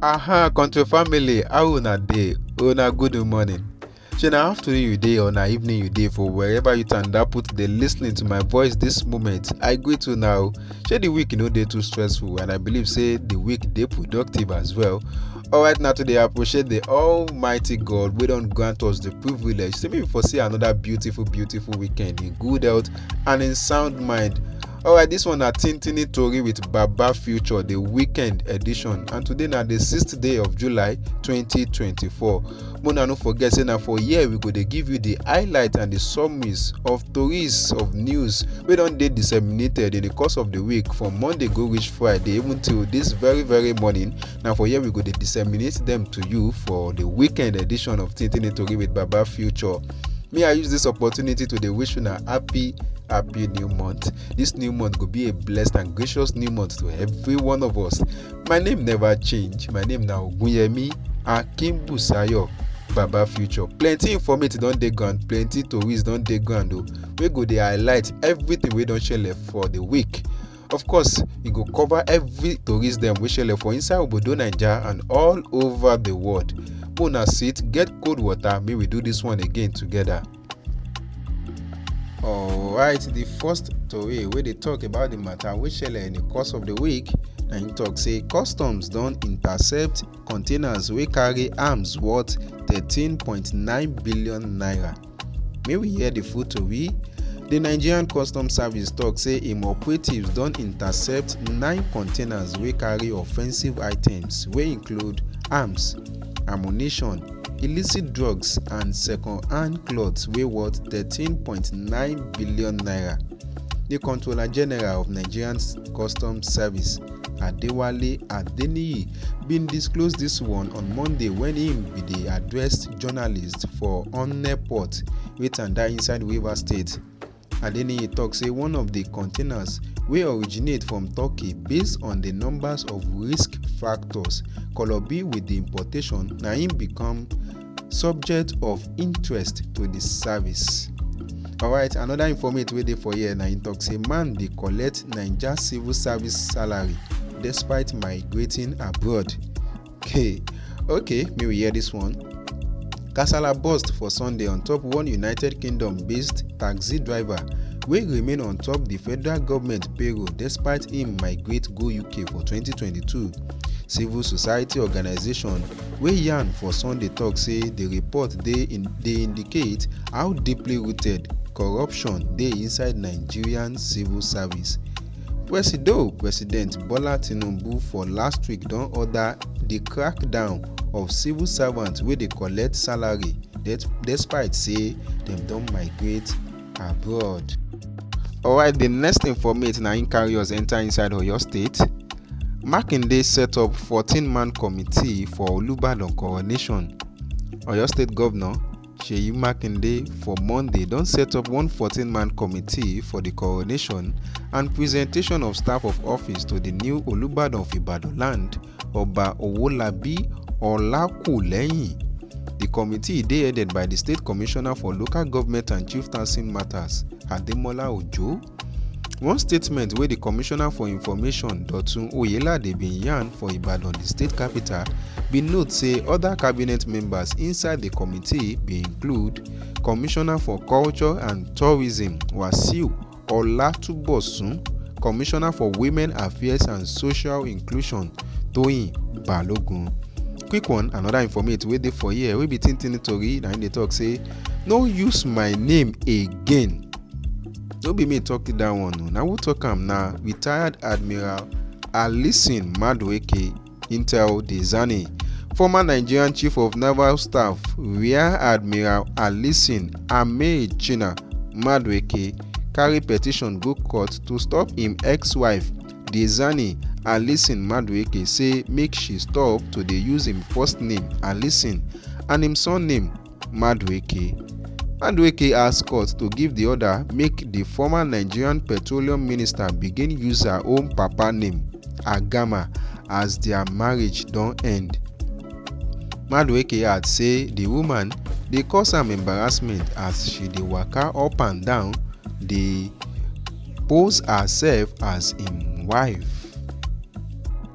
Aha, control family, how una dey? Una good morning. Shey na afternoon you dey or na evening you dey for wherever you tanda put dey lis ten ing to my voice this moment. I greet una o. Shey the week no dey too stressful and I believe say the week dey productive as well. Alright na to dey appreciate the almighty God wey don grant us the privilege say make we for see another beautiful beautiful weekend in good health and in sound mind. alright this one na tintini tori with baba future the weekend edition and today na the sixth day of july 2024 mona no forget say na for here we go dey give you the highlight and the summaries of tories of news wey don dey disseminated in the course of the week from monday go reach friday even till this very very morning Now for here we go to disseminate them to you for the weekend edition of Tintin Tori with Baba Future. May I use this opportunity to wish you a happy happy new month. This new month could be a blessed and gracious new month to every one of us. My name never change. My name now Gunyemi Akimbusayo. baba future plenty informative don dey ground plenty tories don dey ground o oh. wey go dey highlight everything wey don shele for the week Of course, e go cover every tourist dem wey shele for inside obodo Naija and all over the world. Make una sit, get cold water, make we do this one again together. Alright, the first tori wey dey talk about the matter wey shele in the course of the week na im talk say customs don intercept containers wey carry arms worth 13.9 billion naira. May we hear the full tori? The Nigerian Customs Service talk say im operatives don intercept nine containers wey carry offensive items wey include arms, ammunition, illicit drugs and second-hand clothes wey worth 13.9 billion naira. The Controller General of Nigerian Customs Service, Adewale Adeniyi, bin disclose dis one on Monday wen im bin dey address journalist for onne port wey tanda inside rivers state adeniyi tok say one of di containers wey originate from turkey based on di numbers of risk factors kolobi wit di importation na im become subject of interest to di service. alright anoda informate wey dey for here na im tok say man dey collect naija civil service salary despite migrating abroad. Hey, okay, may we hear this one. Kasala burst for Sunday on top one United Kingdom-based taxi driver wey remain on top di federal goment payroll despite im migrate go uk for 2022 civil society organisation wey yarn for sunday tok say di report dey indicate how deeply rooted corruption dey inside nigerian civil service. Presido President Bola Tinubu for last week don order di crackdown of civil servants wey dey collect salary despite say dem don migrate abroad. Alright, di next informate na im carry us enter inside Oyo State. Makinde set up 14-man committee for Olubadan coronation. Oyo State Governor Seyi Makinde for Monday don set up one 14-man committee for di coronation and presentation of staff of office to di new Olubadan of Ibadan land, Oba Owolabi Olakulehin. Di committee dey headed by di State Commissioner for Local Government and Chieftaincy Matters, Ademola Ojo. One statement wey di Commissioner for Information, Dotun Oyelade bin yarn for Ibadan, di state capital, bin note say oda cabinet members inside di committee bin include Commissioner for Culture and Tourism, Wasiu Olatubosun, Commissioner for Women Affairs and Social Inclusion, Toyin Balogun. Quick one, another informate wey dey for here wey be Tintini Tori na im dey talk say no use my name again. no be me talk that one o na who talk am na retired admiral alison madueke intel dezani former nigerian chief of naval staff rear admiral alison ameichina madueke carry petition go court to stop im ex-wife dezani alison madueke say make she stop to dey use im first name alison and im surname madueke madueke ask court to give di order make di former nigerian petroleum minister begin use her own papa name agama as dia marriage don end madueke add say di woman dey cause am embarrassment as she dey waka up and down dey pose herself as im wife.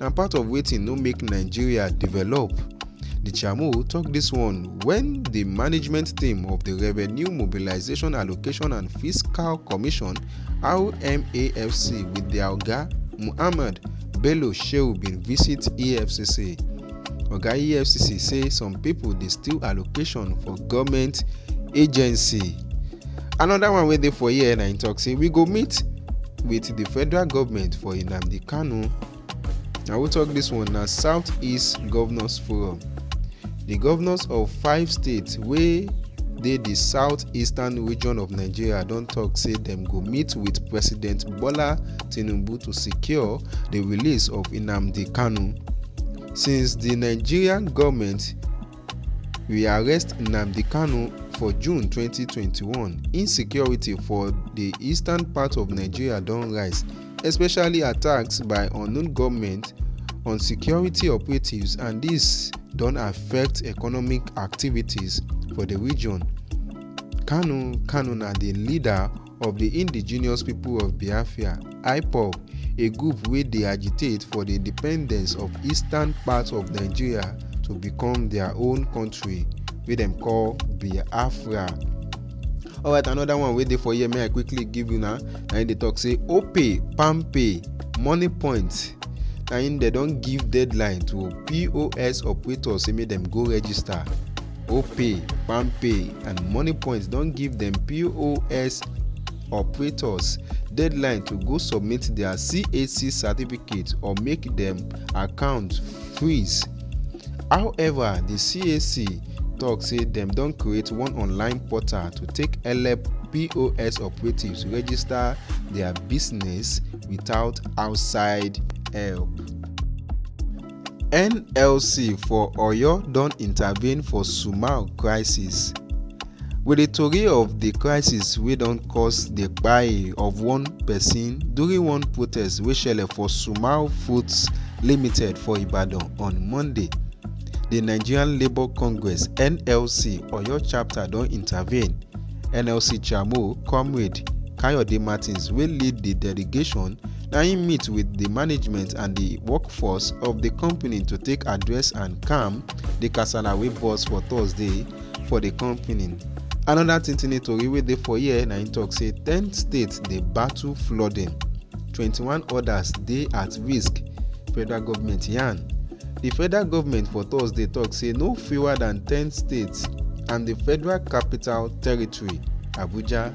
na part of wetin no make nigeria develop di chairmo tok dis one wen di management team of di revenue mobilisation allocation and fiscal commission rmafc wit dia oga muhammad bello shehu bin visit efcc oga efcc say some pipo dey steal allocation for goment agency anoda one wey dey for here na im tok say we go meet wit di federal goment for nnamdi kanu na we tok dis one na south east governors forum di governors of five states wey dey di south eastern region of nigeria don tok say dem go meet wit president bola Tinubu to secure the release of Nnamdi Kanu. Since the Nigerian government rearrest Nnamdi Kanu for June 2021, insecurity for the eastern part of Nigeria don rise, especially attacks by unknown government on security operatives and this don affect economic activities for the region. Kanu Kanu na the leader of di Indigenous People of Biafra, Ipob, a group wey dey agitate for di independence of eastern part of Nigeria to become dia own kontri wey dem call Biafra. Alright anoda one wey dey for here make I quickly give una na im dey tok say Opay, Palmpay, Moniepoint na im dem don give deadline to POS operators say make dem go register opay palmpay and moniepoint don give dem pos operators deadline to go submit their CAC certificate or make them account freeze. However, the CAC talk say dem don create one online portal to take help POS operatives register their business without outside help. nlc for oyo don intervene for sumal crisis wit di tori of di crisis wey don cause di kpai of one pesin during one protest wey shele for sumal foods limited for ibadan on monday di nigerian labour congress nlc oyo chapter don intervene nlc chairmo comrade kayode martins wey lead di delegation na im meet wit di management and di workforce of di company to take address and calm di kasala wey burst for thursday for di company. Anoda tintini tori wey dey for here na im tok say ten states dey battle flooding, twenty one odas dey at risk, federal goment yarn. Di federal goment for Thursday tok say no fewer dan ten states and di Federal Capital Territory, Abuja,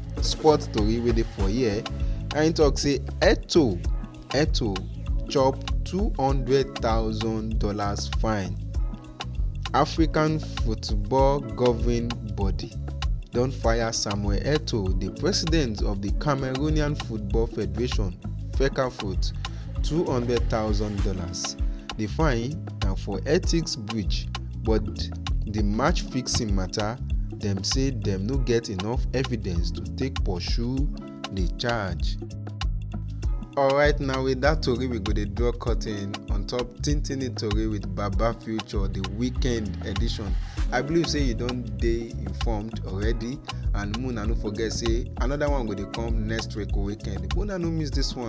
sports tori wey dey for here and he talk say eto eto chop two hundred thousand dollars fine african football governing body don fire samuel eto the president of the cameroonian football federation fecafoot two hundred thousand dollars the fine na for ethics breach but di match fixing mata dem say dem no get enough evidence to take pursue di charge. Alright now with that tori we go dey draw curtain on top Tintini tori with Baba Future the weekend edition. I believe say you don dey informed already and una no forget say another one go dey come next week weekend. Una no miss this one.